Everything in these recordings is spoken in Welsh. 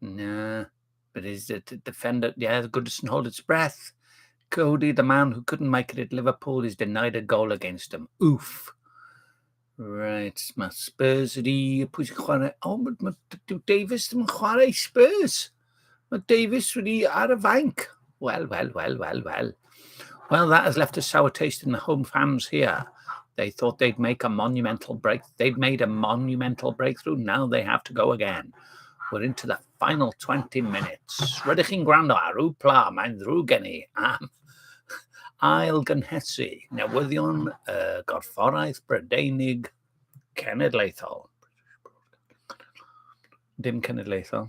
Nah, but is it a defender? Yeah, the good doesn't hold its breath. Cody, the man who couldn't make it at Liverpool, is denied a goal against them. Oof. Right, mae Spurs yr i, pwy sy'n chwarae? O, oh, mae Davis ddim yn chwarae Spurs. Mae Davis wedi ar y fainc. Well, well, well, well, well. Well, that has left a sour taste in the home fans here. They thought they'd make a monumental break. They'd made a monumental breakthrough. Now they have to go again. We're into the final 20 minutes. Rydych chi'n gwrando ar yw pla, mae'n ddrwg gen i am ail gynhesu newyddion y uh, gorfforaeth Brydeinig cenedlaethol. Dim cenedlaethol.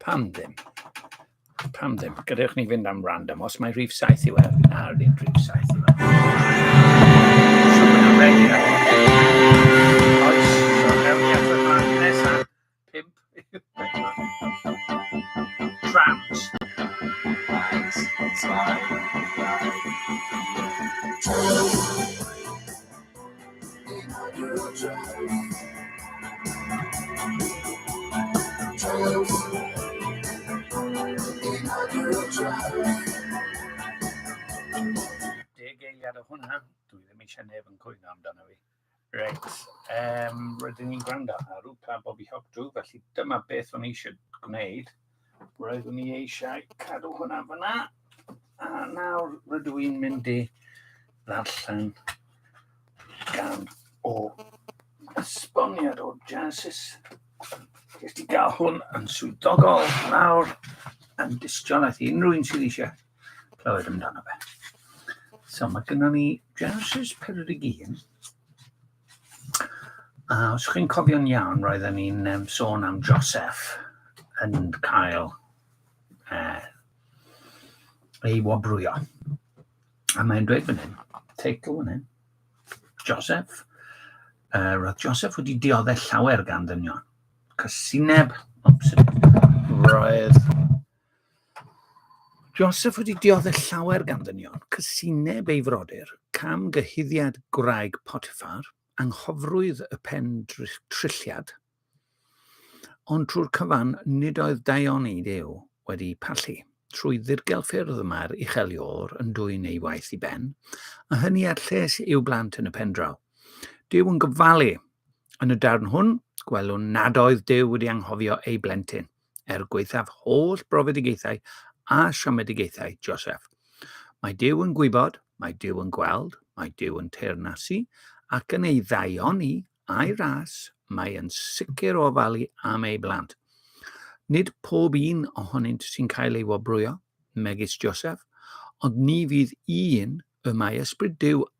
Pam ddim? Pam ddim? Gadewch ni fynd am random. Os mae rhif 7 i weld, na, ddim rhif 7 i weld. Oes, so mewn i atod fan nesaf. Pimp. Trams. Trams. Deg eiliad o hwnna, dwi ddim eisiau neb yn cwyno amdano fi. Reit, um, rydyn ni'n gwrando ar Upa Bobby Hawk Drew, felly dyma beth o'n eisiau gwneud. Roeddwn i eisiau cadw hwnna fyna. A nawr rydw i'n mynd i ddarllen gan o esboniad o Genesis. Jyst i gael hwn yn swyddogol nawr yn dystiolaeth i unrhyw un sydd eisiau clywed amdano fe. So mae gynnon ni Genesis 41 A os chi'n cofio'n iawn, roedden ni'n um, sôn am Joseph yn cael uh, ei wobrwyo. A mae'n dweud fan hyn, teitl fan hyn, Joseph. Uh, roedd Joseph wedi dioddau llawer gan ddynion. Cysineb, obsydyn, roedd Joseph wedi diodde llawer gan ddynion, cysineb ei frodyr, cam gyhuddiad gwraig Potiffar, anghofrwydd y pen trilliad, ond trwy'r cyfan nid oedd daion ei dew wedi pallu. Trwy ddirgel ffyrdd y mae'r ucheliwr yn dwyn ei waith i ben, a hynny ar lles i'w blant yn y pendraw. Dyw yn gyfalu. Yn y darn hwn, gwelwn nad oedd Dyw wedi anghofio ei blentyn. er gwaethaf holl brofedigaethau a siomedigaethau Joseph. Mae Dyw yn gwybod, mae Dyw yn gweld, mae Dyw yn teyrnasu, ac yn ei ddaioni a'i ras, mae yn sicr o ofalu am ei blant. Nid pob un ohonynt sy'n cael ei wobrwyo, megis Joseph, ond ni fydd un y mae Ysbryd Dyw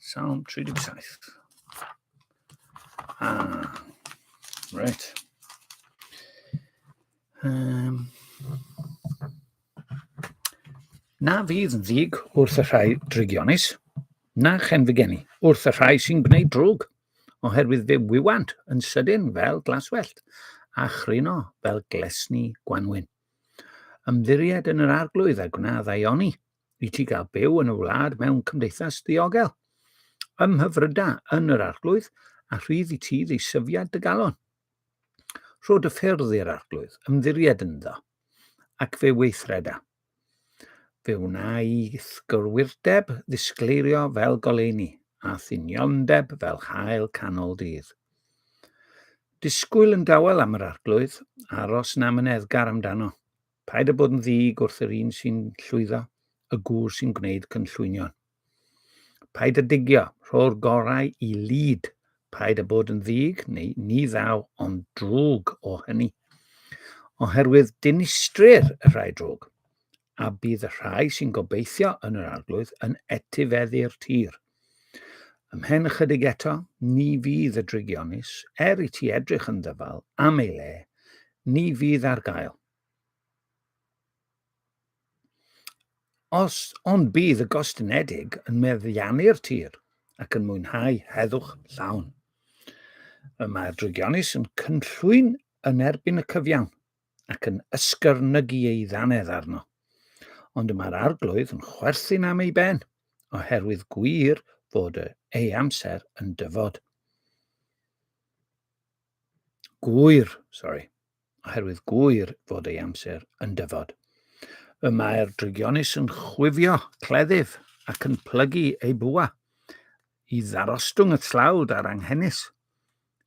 Salm 37. Ah, right. Um, na fydd yn ddig wrth y rhai drygionus, na chen fy geni wrth y rhai sy'n gwneud drwg, oherwydd fe wywant yn sydyn fel glaswellt, a chryno fel glesni gwanwyn. Ymddiried yn yr arglwydd a gwna ddaioni, i ti gael byw yn y wlad mewn cymdeithas ddiogel, ym mhyfryda yn yr arglwydd, a rhydd i ti ddisyfiad dy galon. Rho dy ffyrdd i'r arglwydd, ymddiried ynddo, ac fe weithreda. Fe wna i gyrwyrdeb ddisgleirio fel goleini, a thuniondeb fel hael canol dydd. Disgwyl yn dawel am yr arglwydd, aros na myneddgar amdano. Paid â bod yn ddig wrth yr un sy'n llwyddo, y gŵr sy'n gwneud cynllwynion. Paid â digio, rho'r gorau i lid. Paid â bod yn ddig, neu ni ddaw ond drwg o hynny. Oherwydd dinistrir y rhai drwg, a bydd y rhai sy'n gobeithio yn yr arglwydd yn etifeddu'r tir. Ymhen ychydig eto, ni fydd y drigionus, er i ti edrych yn ddyfal am ei le, ni fydd ar gael. Os ond bydd y gostynedig yn meddiannu'r tir ac yn mwynhau heddwch llawn. Y mae'r drigionus yn cynllwyn yn erbyn y cyfiawn, ac yn ysgyrnygu ei ddannedd arno. Ond y mae'r arglwydd yn chwerthin am ei ben, oherwydd gwir fod ei amser yn dyfod. Gwyr, sorry, oherwydd gwyr fod ei amser yn dyfod. Y mae'r drygionus yn chwifio cleddyf ac yn plygu ei bwa i ddarostwng y tlawd a'r anghenus.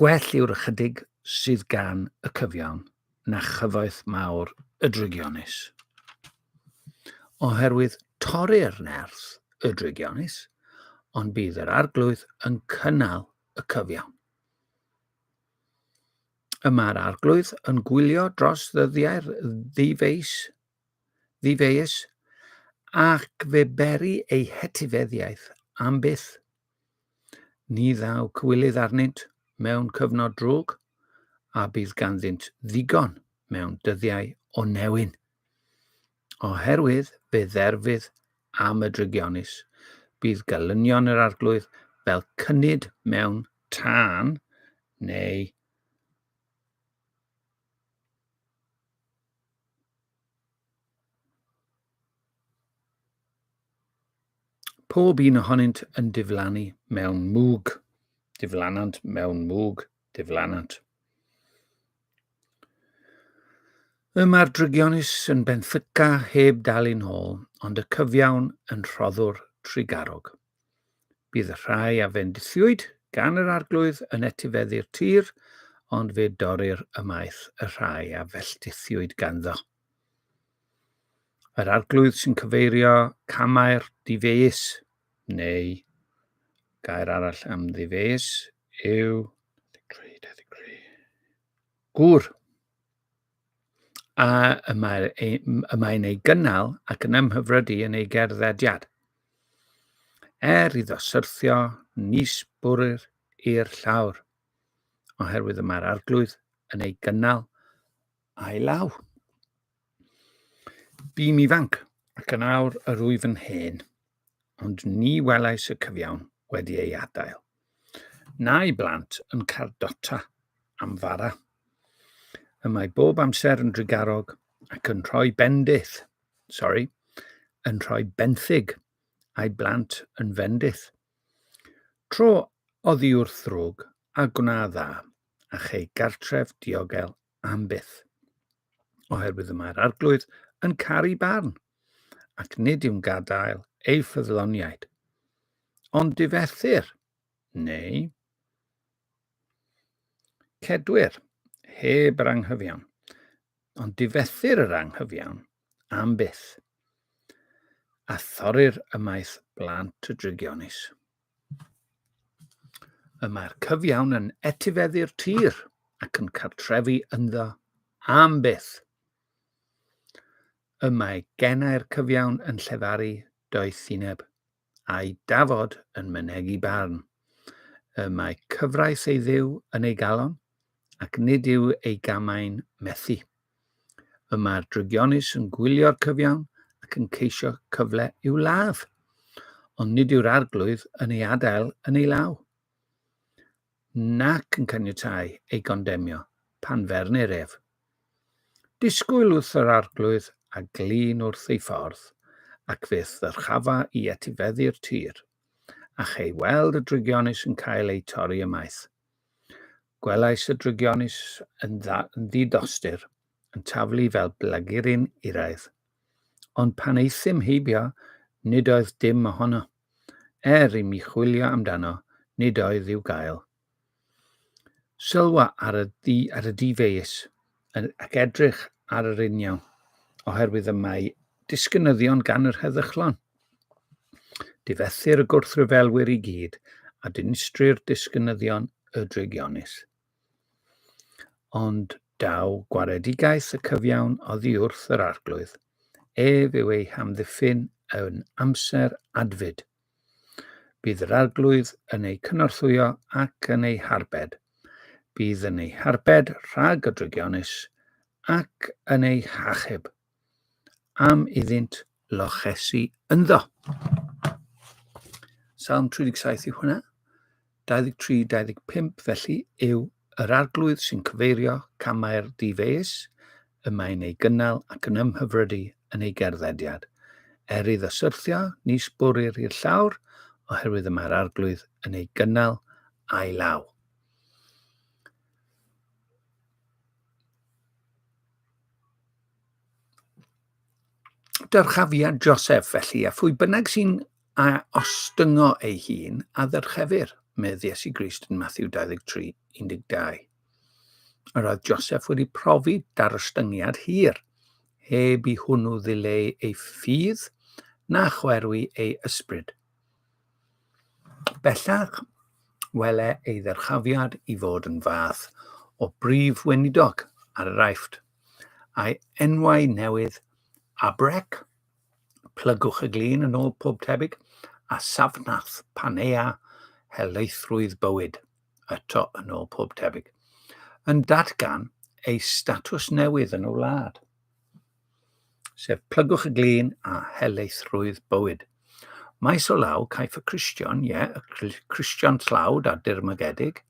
gwell yw'r ychydig sydd gan y cyfiawn na chyfoeth mawr y drygionus. Oherwydd torri'r nerth y drygionus, ond bydd yr arglwydd yn cynnal y cyfiawn. Y mae'r arglwydd yn gwylio dros ddyddiau'r ddifeis, ddifeus ac fe beri ei hetifeddiaeth am byth Ni ddaw cywilydd arnynt mewn cyfnod drwg, a bydd ganddynt ddigon mewn dyddiau o newyn. Oherwydd fe dderfydd am y drygionus, bydd gelynion yr arglwydd fel cynnyd mewn tân, neu Pob un ohonynt yn diflannu mewn mwg. Diflanant mewn mwg. Diflanant. Y mae'r drygionus yn benthyca heb dal yn ôl, ond y cyfiawn yn rhoddwr trigarog. Bydd rhai a fendithiwyd gan yr Arglwydd yn etifeddu'r tir, ond fe dorrir ymaith y rhai a felltithiwyd ganddo. Yr Arglwydd sy'n cyfeirio camau'r difeus, neu gair arall am ddifeus yw gŵr. a y mae'r ei, y mae'n ei gynnal ac yn ymhyfrydu yn ei gerddediad. Er iddo syrthio nis bwrr i'r llawr, oherwydd y mae'r arglwydd yn ei gynnal a'i law. Bîm ifanc, ac yn awr yr wyf yn hen. ond ni welais y cyfiawn wedi ei adael. Na'i blant yn cardota am fara. Y mae bob amser yn drigarog ac yn rhoi bendith, sorry, yn rhoi benthyg a'i blant yn fendith. Tro oddi wrth ddrwg a gwna dda, a chei gartref diogel am byth, oherwydd y mae'r arglwydd yn caru barn, ac nid yw'n gadael ei ffyddloniaid. Ond difethir, neu cedwyr, heb yr anghyfiawn. Ond difethir yr anghyfiawn, am byth, a thorri'r ymaith blant y drygionis. Y mae'r cyfiawn yn etifeddu'r tir ac yn cartrefu ynddo am byth. Y mae genau'r cyfiawn yn llefaru doethineb a'i dafod yn mynegi barn. Y mae cyfraith ei dduw yn ei galon, ac nid yw ei gamau'n methu. Y mae'r drygionus yn gwylio'r cyfiawn ac yn ceisio cyfle i'w ladd, ond nid yw'r arglwydd yn ei adael yn ei law. nac yn caniatáu ei gondemnio pan fernir ef. Disgwyl wrth yr arglwydd a glin wrth ei ffordd, ac fe ddyrchafa i etifeddu'r tir, a chei weld y drygionus yn cael eu torri ymaith. Gwelais y drygionus yn, dda, yn ddidostur, yn taflu fel blagurin uraidd. Ond pan eithym heibio, nid oedd dim ohono. Er i mi chwilio amdano, nid oedd i'w gael. Sylwa ar y, di, ar y difeus ac edrych ar yr uniaw, oherwydd y mae disgynyddion gan yr heddychlon. Difethir y gwrthryfelwyr i gyd, a dinistrir disgynyddion y drygionus. Ond daw gwaredigaeth y cyfiawn oddi wrth yr Arglwydd, ef yw ei hamddiffyn yn amser adfyd. Bydd yr Arglwydd yn eu cynorthwyo ac yn eu harbed. Bydd yn eu harbed rhag y drygionus ac yn eu hachub am iddynt lochesu ynddo. Salm 37 yw hwnna. 23-25 felly yw yr arglwydd sy'n cyfeirio camau'r difeus y mae'n ei gynnal ac yn ymhyfrydu yn ei gerddediad. Er iddo syrthio, ni sbwrir i'r llawr, oherwydd y mae'r arglwydd yn ei gynnal a'i law. Dyrchafiad Joseph, felly, a phwy bynnag sy'n a ostyngo ei hun, a ddyrchefir, medd Iesu Grist yn Matthew 23, 12. Yr oedd Joseph wedi profi darostyngiad hir, heb i hwnnw ddileu ei ffydd na chwerwi ei ysbryd. Bellach, wele ei ddyrchafiad i fod yn fath o Brif Weinidog ar yr Aifft, a'i enwau newydd, Abrec, plygwch y glin yn ôl pob tebyg, a Safnath, Panea, helaethrwydd bywyd, eto yn ôl pob tebyg, yn datgan ei statws newydd yn y wlad. sef plygwch y glin a helaethrwydd bywyd. Maes o law, caiff y Cristion, ie, yeah, y Cristion tlawd a dirmygedig,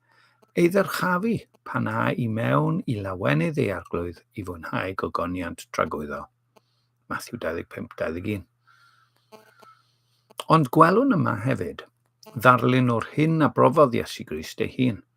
ei ddyrchafu pan a i mewn i lawenydd ei arglwydd i fwynhau gogoniant tragwyddo. Matthew 25-21. Ond gwelwn yma hefyd, ddarlun o'r hyn a brofodd Iesu Grist ei hun –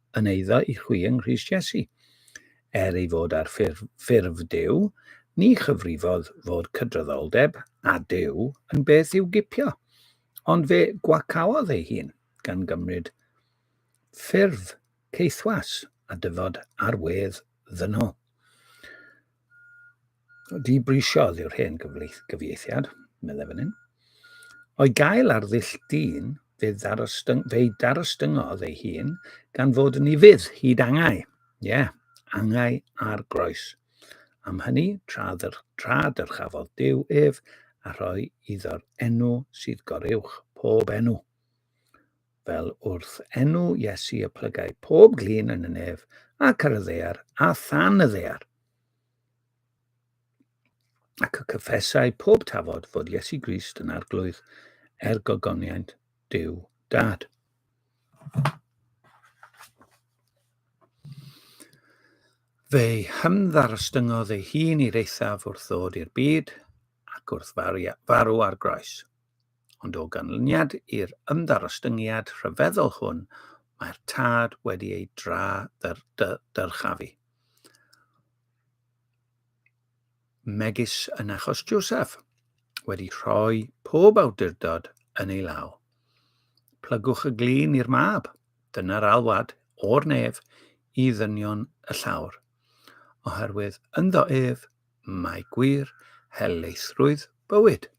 yn eiddo i chwi yng Nghrist Iesu. Er ei fod ar ffurf, ffurf Duw, ni chyfrifodd fod cydraddoldeb â Duw yn beth i'w gipio, ond fe gwacaodd ei hun, gan gymryd ffurf caethwas a dyfod ar wedd ddynol. Dibrysiodd yw'r hen gyfieithiad, meddai fan hyn. O'i gael ar ddull dyn, fe darostyngodd ei hun gan fod yn ifydd hyd angau. Ie, yeah, angau ar groes. Am hynny, tra, dyr, tra dyrchafodd Dyw ef a rhoi iddo'r enw sydd goruwch pob enw. fel wrth enw Iesu y plygai pob glin yn y nef ac ar y ddear a than y ddear. Ac y cyffesau pob tafod fod Iesu Grist yn arglwydd er gogoniant Dyw Dad. Fe'i hymddarostyngodd ei hun i'r eithaf wrth ddod i'r byd ac wrth farw ar groes. ond o ganlyniad i'r ymddarostyngiad rhyfeddol hwn mae'r tad wedi ei dra dyrchafu. Megis yn achos Joseph, wedi rhoi pob awdurdod yn ei law. Plygwch y glin i'r mab, dyna'r alwad o'r nef i ddynion y llawr, oherwydd ynddo ef mae gwir helaethrwydd bywyd.